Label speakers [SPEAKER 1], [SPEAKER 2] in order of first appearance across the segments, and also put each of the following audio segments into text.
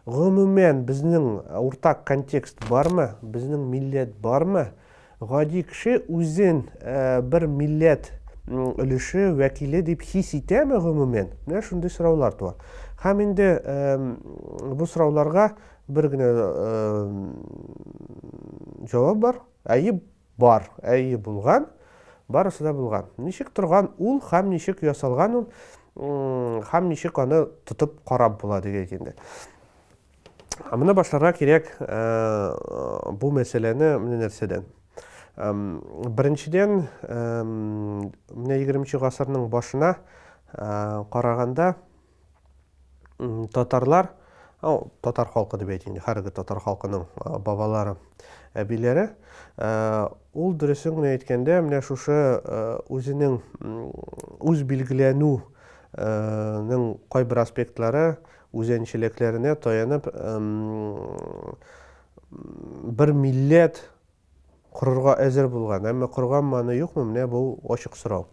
[SPEAKER 1] Гомумән, безнең уртак контекст бармы? Безнең милләт бармы? Гади кеше үзен э, бер милләт өлеше вәкиле дип хис итәме гомумән? Менә шундый сораулар туа. Һәм инде бу сорауларга бер генә э, җавап бар. Әйе, бар. Әйе, булган. Барысы да булган. Ничек торган ул һәм ничек ясалган ул, һәм ничек аны тотып карап була дигәйк инде. Моны башларга кирәк бу мәсьәләне менә нәрсәдән. Беренчедән, менә 20 нче гасырның башына караганда, татарлар, ау, татар халкы дип әйтим, хәрге татар халкының бабалары, әбиләре, ул дөресен генә әйткәндә, менә шушы үзенең үз билгеләнү нең кайбер аспектлары үзенчәлекләренә таянып бер милләт корырга әзер булган. Әмма корган маны юкмы? Менә бу ачык сорау.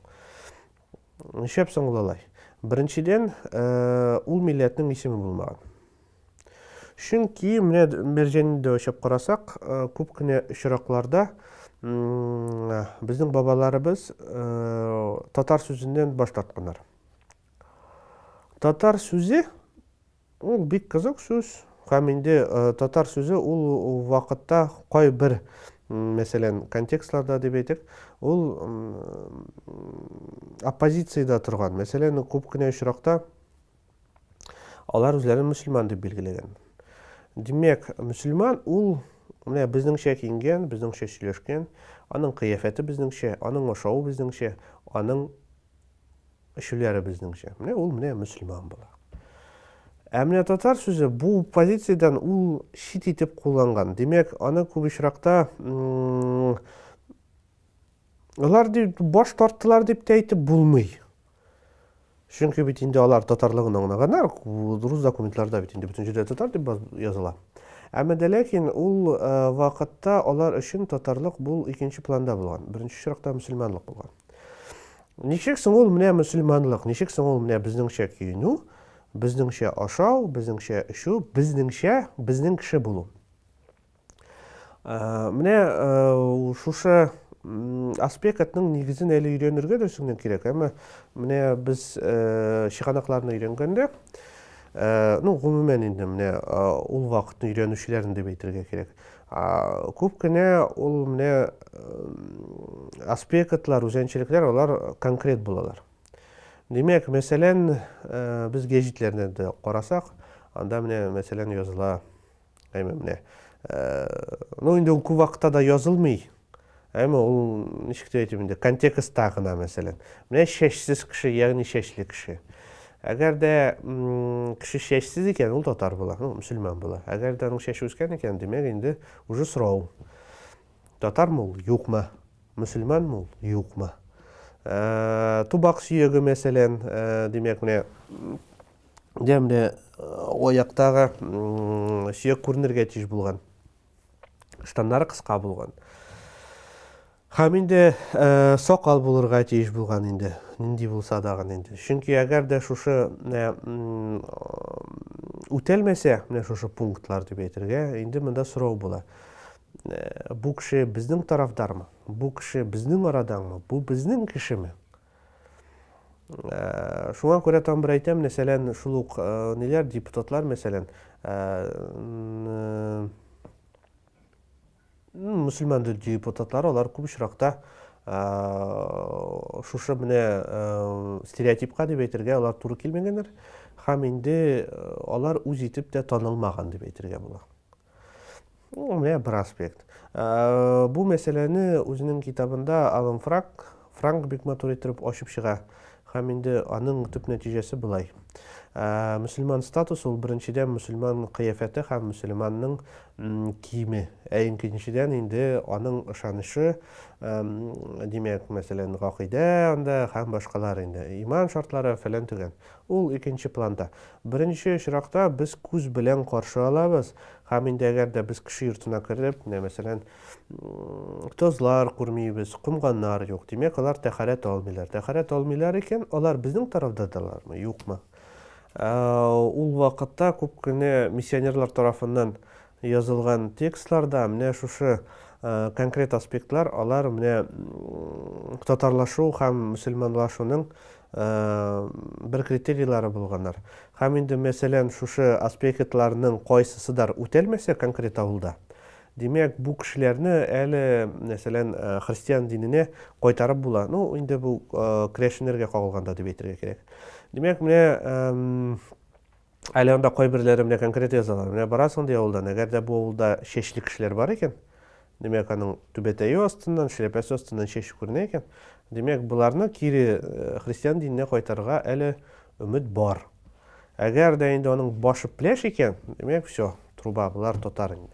[SPEAKER 1] Нишләп соң ул алай? Беренчедән, ул милләтнең исеме булмаган. Чөнки менә Мәрҗәнне дә очып карасак, күп кенә очракларда безнең бабаларыбыз татар сүзеннән баш тартканнар. Татар сүзе Ул бик кызык сүз һәм инде татар сүзе ул вакытта кайбер, мәсәлән, контекстларда дип әйтик, ул оппозициядә торган. Мәсәлән, күп кенә очракта алар үзләрен мөселман дип билгеләгән. Димәк, мөселман ул менә безнеңчә киенгән, безнеңчә сөйләшкән, аның кыяфәте безнеңчә, аның ашавы безнеңчә, аның Өчеләребезнеңчә. Менә ул менә мөселман була. Ә менә татар сүзе бу позициядән ул чит итеп кулланган. Димәк, аны күп очракта алар дип баш тарттылар дип тә әйтеп булмый. Чөнки бит инде алар татарлыгын аңлаганнар, рус документларда бит инде бөтен җирдә татар дип языла. Әмма дә ләкин ул э, вакытта алар өчен татарлык бул икенче планда булган. Беренче чиратта мөселманлык булган. Ничек соң ул менә мөселманлык, ничек соң ул менә безнеңчә киенү, безнеңчә ашау, безнеңчә эчү, безнеңчә безнең кеше булу. Ә, менә ә, шушы аспектның нигезен әле өйрәнергә дә сүңнән кирәк, әмма менә без ә, чыганакларны өйрәнгәндә, ә, ну, гомумән инде менә ә, ул вакытны өйрәнүчеләрен дип әйтергә кирәк. Күп кенә ул менә аспектлар, үзенчәлекләр алар конкрет булалар. Димәк, мәсәлән, без гәҗитләрне дә карасак, анда менә мәсәлән языла, әйме менә. Ну инде ул күп вакытта да язылмый. Әмма ул ничек тә әйтим инде, контекстта гына, мәсәлән. Менә чәчсез кеше, ягъни чәчле кеше. Әгәр дә кеше чәчсез икән, ул татар була, ну, мөселман була. Әгәр дә аның чәче үскән икән, димәк инде уже сорау. Татармы ул, юкмы? Мөселманмы ул, юкмы? Ә, тубак сөяге, мәсәлән, ә, димәк, менә дә менә аяктагы сөяк күренергә тиеш булган. штаннары кыска булган. Һәм инде э, сакал булырга тиеш булган инде, нинди булса дагын инде. Чөнки әгәр дә шушы э, үтәлмәсә, менә шушы пунктлар дип әйтергә, инде монда сорау була. Э, бу кеше безнең тарафдармы? Бу кеше безнең арадаңмы? Бу безнең кешеме? Шуңа күрә тагын бер әйтәм, мәсәлән, шул ук ниләр, депутатлар, мәсәлән, мөселман депутатлар, алар күп очракта шушы менә стереотипка дип әйтергә, алар туры килмәгәннәр һәм инде алар үз итеп тә танылмаган дип әйтергә була. Ну, менә бер аспект. Ә, бу мәсьәләне үзенең китабында Алан Франк, Франк бик матур итеп ачып чыга. Һәм инде аның төп нәтиҗәсе булай. Ә, мөселман статус ул беренчедән мөселман кыяфәте һәм мөселманның киеме. Ә икенчедән инде аның ышанышы, ә, димәк, мәсәлән, гакыйдә анда һәм башкалар инде. Иман шартлары фәлән төгән. Ул икенче планда. Беренче очракта без күз белән каршы алабыз һәм инде әгәр дә без кеше йортына кереп, менә мәсәлән, тозлар күрмибез, комганнар юк, димәк, алар тәһарәт алмыйлар. Тәһарәт алмыйлар икән, алар безнең тарафдадалармы, юкмы? Ул вакытта күп кенә миссионерлар тарафыннан язылган текстларда менә шушы конкрет аспектлар, алар менә татарлашу һәм мөселманлашуның бер критерийлары булганнар. Һәм инде, мәсәлән, шушы аспектларның кайсысыдыр үтәлмәсә конкрет авылда, димәк, бу кешеләрне әле, мәсәлән, христиан диненә кайтарып була. Ну, инде бу керәшеннәргә кагылганда дип әйтергә кирәк. Димәк, менә Әле анда кайберләре менә конкрет язалар, менә барасың ди авылдан, әгәр дә бу авылда чәчле кешеләр бар икән, димәк, аның түбәтәе астыннан, шляпәсе астыннан чәч күренә икән, димәк, боларны кире христиан диненә кайтарырга әле өмет бар. Әгәр дә инде аның башы пләш икән, димәк, все, труба, болар татар инде.